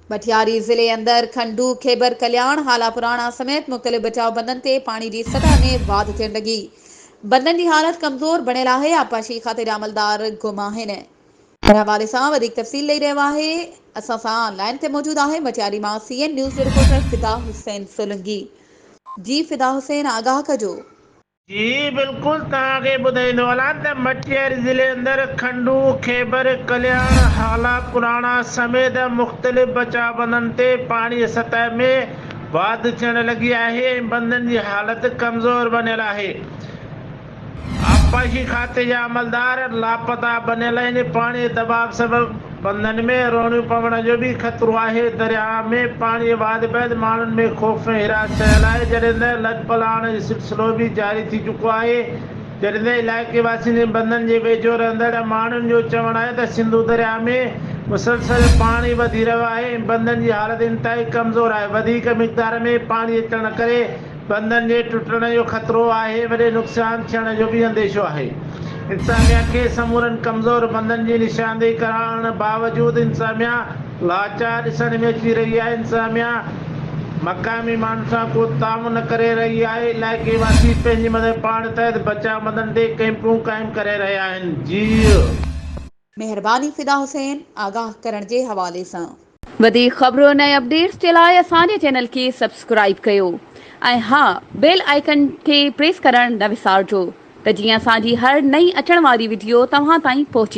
پٺياري ضلعي اندر کنڊو، خيبر ڪلياڻ، هالا پراڻا سميت مختلف بچاء بندن تي پاڻي جي سطح ۾ واڌ ٿيڻ لڳي بندن جي حالت ڪمزور بڻيل آهي، آبپاشي کاتي جا عملدار گم آهن. ان حوالي سان وڌيڪ تفصيل ڏئي رهيو آهي اسان سان لائين تي موجود آهي مٽياري مان C N news reporter Fida Hussain Solangi. جي فدا حسين آگاهه ڪجو. جي بلڪل توهان کي ٻڌائيندو هلان ته مٽياري ضلعي اندر کنڊو، خيبر، ڪلياڻ، هالا، پراڻا سميت مختلف بچاء بندن تي پاڻي جي سطح ۾ واڌ ٿيڻ لڳي آهي ۽ بندن جي حالت ڪمزور بنيل آهي آبپاشي کاتي جا عملدار لاپتا بنيل آهن پاڻي جي دٻاء سبب بندن ۾ روڻيون پوڻ جو به خطرو آهي، درياهه ۾ پاڻي واڌ بعد ماڻهن ۾ خوف ۽ حراس ڇانيل آهي، جڏهن ته لڏ پلاڻ جو سلسلو به جاري ٿي چڪو آهي، جڏهن ته علائقي واسين ۽ بندن جي ويجهو رهندڙ ماڻهن جو چوڻ آهي ته سنڌو درياهه ۾ مسلسل پاڻي وڌي رهيو آهي ۽ بندن جي حالت انتهائي ڪمزور آهي، وڌيڪ مقدار ۾ پاڻي اچڻ ڪري بندن جي ٽٽڻ جو خطرو آهي، وڏي نقصان ٿيڻ جو به انديشو آهي. انتظاميا کي سمورن ڪمزور بندن جي نشاندهي ڪرائڻ باوجود انتظاميا لاچار ڏسڻ ۾ اچي رهي آهي، انتظاميا مقامي ماڻهن سان ڪو تعاون نه ڪري رهي آهي، علائقي واسي پنهنجي مدد پاڻ تحت بچاء مدن تي ڪئمپون قائم ڪري رهيا آهن، جيئي. مهرباني فدا حسين آگاهه ڪرڻ جي حوالي سان. وڌيڪ خبرن ۽ اپڊيٽس جي لاء اسان جي چينل کي سبسڪرائيب ڪيو ۽ ها بيل آئيڪن کي پريس ڪرڻ نه وسارجو ته جيئن اسان جي هر نئين اچڻ واري وڊيو توهان تائين پهچي.